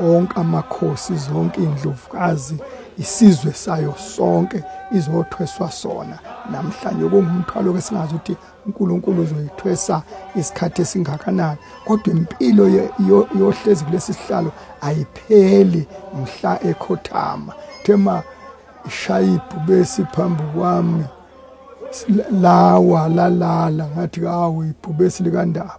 onke amakhosi zonke indlovukazi isizwe sayo sonke izothweswa sona namhlanje kungumthwalo ke singazi ukuthi uNkulunkulu uzoyithwesa isikhathi esingakanani kodwa impilo yohlezi kulesi sihlalo ayipheli mhla ekhothama thema ishayibhu besi phambi kwami lawa lalala ngathi kawu ibhubesi likandaba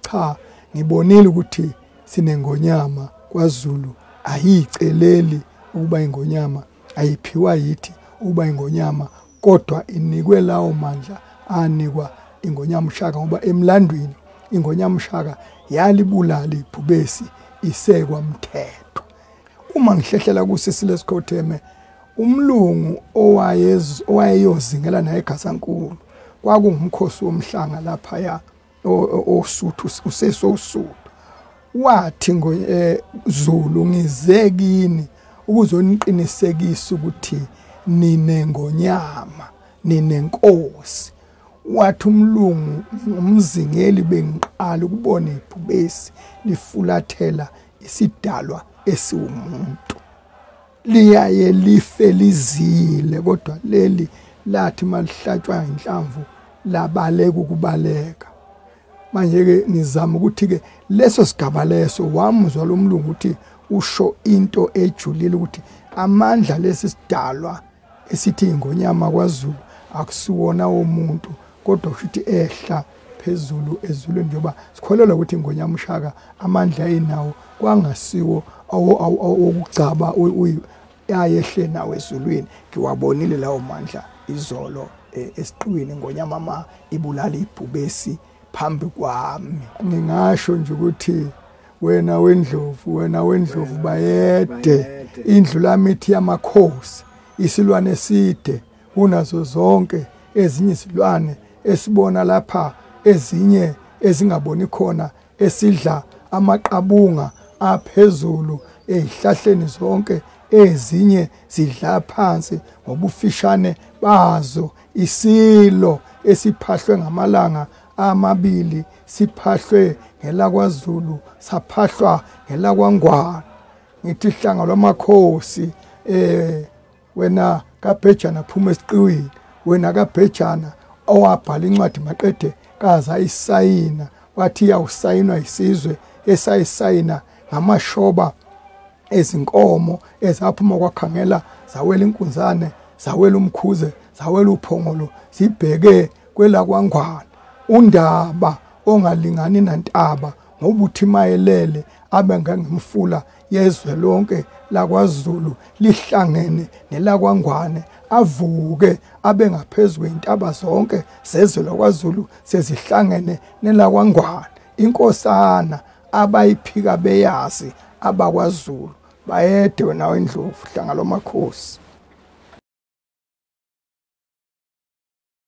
cha ngibonile ukuthi sinengonyama kwaZulu ayiceleli ukuba ingonyama ayiphiwa yithi ukuba ingonyama kodwa inikwe lawo mandla anikwa ingonyama ushaka ngoba emlandwini ingonyama ushaka yalibulala ibhubesi isekwa mthetho uma ngihlehlela kusisi lesikhotheme umlungu owayezingela naye eGazankulu kwakungumkhosi womhlanga laphaya osuthu usesosuthu wathi ngo eh, Zulu ngize kini ukuzoniqinisekisa ukuthi nine ngonyama nine nkosi wathi umlungu umzingeli bengiqala ukubona ibhubesi lifulathela isidalwa esiwumuntu liyaye life lizile kodwa leli lathi malihlatshwa inhlamvu labaleka ukubaleka manje ke nizama ukuthi ke leso sigaba leso wamuzwa lomlungu ukuthi usho into ejulile ukuthi amandla lesi sidalwa esithi ingonyama kwaZulu akusiwona womuntu kodwa kushuthi ehla phezulu ezulwini njengoba sikholelwa ukuthi ingonyama ushaka amandla ayinawo kwangasiwo awokugcaba ayehle nawo ezulwini ngiwabonile lawo mandla izolo e, esiqiwini ngonyama ma ibulala ibhubesi phambi kwami ngingasho nje ukuthi wena wendlovu wena wendlovu bayede indlu lamithi yamakhosi isilwane eside kunazo zonke ezinye izilwane esibona lapha ezinye ezingaboni khona esidla amaqabunga aphezulu ezihlahleni zonke ezinye zidla phansi ngobufishane bazo isilo esiphahlwe ngamalanga amabili siphahlwe ngelakwaZulu saphahlwa ngelakwangwana ngithi hlanga lwamakhosi eh wena kabhejana phuma esiqiwini wena kabhejana owabhala incwadi maqede kaze ayisayina wathi iyawusayinwa yisizwe esayisayina ngamashoba ezinkomo ezaphuma kwakhangela zawela inkunzane zawela umkhuze zawela uphongolo zibheke kwelakwangwana undaba ongalingani nantaba ngoba uthi mayelele abe ngangimfula yezwe lonke lakwaZulu lihlangene nelakwaNgwane avuke abe ngaphezulu intaba zonke zezwe lakwaZulu sezihlangene nelakwaNgwane inkosana abayiphika beyazi abakwaZulu bayede wena wendlovu hlanga lomakhosi